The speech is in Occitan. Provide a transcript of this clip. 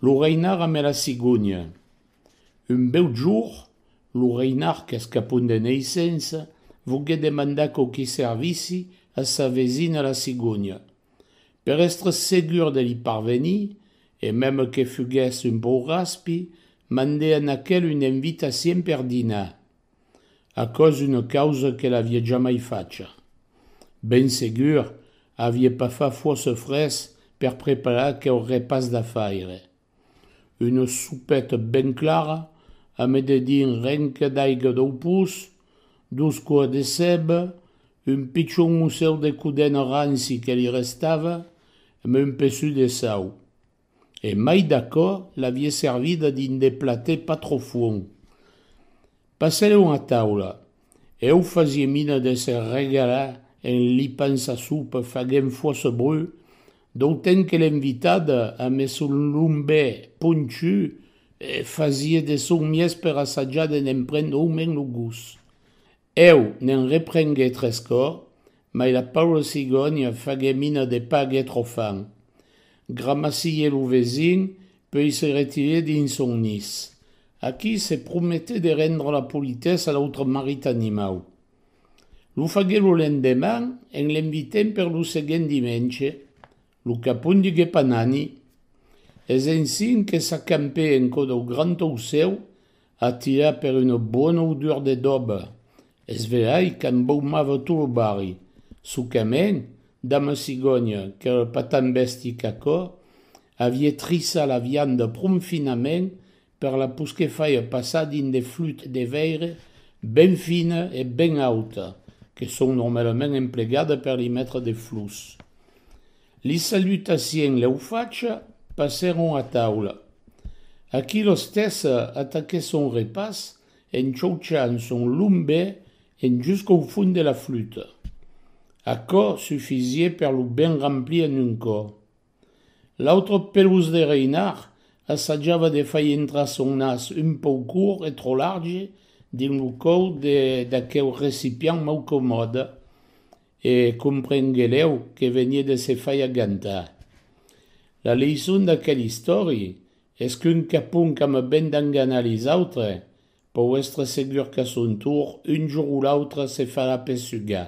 Lo reinard ame la cigònia. Un bèu jorn, lo reinard qu'es capon de neissença, voguèt demandar quauqui servici a sa vesina la cigònia. Per èstre segur de li parvenir, e mème que fuguèsse un pauc raspi, mandè a n'aquel una invitacion per dinar. aquò's una causa que l'avie jamai facha. Ben segur, avie pas fa fòrça fres per preparar aqueu repàs d'afaire. Una sopeta ben clara, a me dedin renca d'aiga dau pus, dos coas de ceba, un pichon mossèu de codena ranci que li restava, e me un peçut de sau. e mai d'aquò l'avie servida dins de platets pas trop fuon. Passerèron a taula, e eu fasie mina d'èsser regala en lipant sa sopa faguent fuòssa brut, d'autant que l'invitada, amb son lombè ponchu, fasie de son mies per assajar de ne'n prendre aument lo gust. Eu ne'n reprenguè tres còr, mai la paura cigònia faguè mina de pas guètre au fan. Gramassié lo vesin, puei se retirè dins son nis. Aquí se prometè de rendre la politessa a l'autre marit animau. Lo faguè lo lendeman en l'invitent per lo seguent dimenge Lo capon diguèt Panani, Es ensin que s'acampè en cò dau grand aucèu, atirat per una bona odor de doba, es velhai qu'embaumava tot lo barri. Sucament, dama Cigònia, qu'èra pas tan bèsti qu'aquò, aviá trisat la vianda pron finament Per la posquer faia passar dins de flût de veire ben fina e ben auta que son normalament emplegada per li metre de flors. Li salutaciens lèu facha, passèron a taula. Aquí l'ostessa ataquèt son repàs en chauchant son long bè en jusqu'au fond de la flûta. Aquò sufisié per lo ben remplir en un còp. L'autre pelós de Reinhard assajava de fai entrar son nas un pauc cort e trò large dins lo còu d'aqueu recipiant mau comòde e comprengueleu que venie de se fai agantar. La leison d'aquel istòri es qu'un capon qu'ama ben d'enganar les autres pòu èstre segur qu'a son tour un jorn o l'autre se farà pesugar.